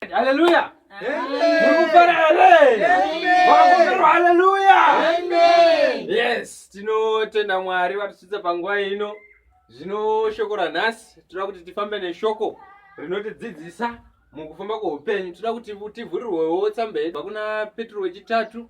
Hallelujah. Yes, tinotenda Mwari vatichidza panguva ino. Zvino shoko ranhasi toda kuti tifambe neshoko rinotidzidzisa mukufamba kweupenyu. Toda kuti tivhurirwewo tsamba yedu kuna Petro wechitatu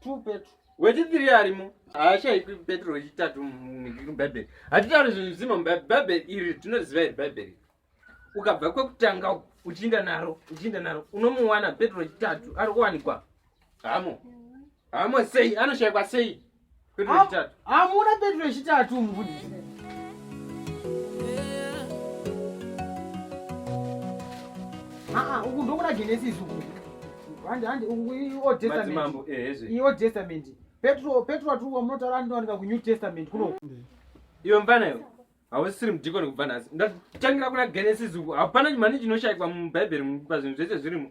two petro wechitiri arimo haashaikwi petro wechitatu mubhaibheri hatitauri zvinhu zvimo mubhaibheri iri tinoziva iri bhaibheri ukabva kwekutanga uchiinda naro uchiinda naro unomuwana petro wechitatu ari kuwanikwa hamo hamo sei anoshaikwa sei hamuna petro yechitatu mufundisi aa uku ndokuna genesis uku handi handi uku iold testament iold eh, testament petro petro atiri wamunotaura andowanika kunew testament kuno iwe mfana iwe hausisiri mudhikoni kubva nhasi ndatangira kuna genesis uku hapana mhani chinoshayikwa mubhaibheri pa zvinhu zvese zvirimo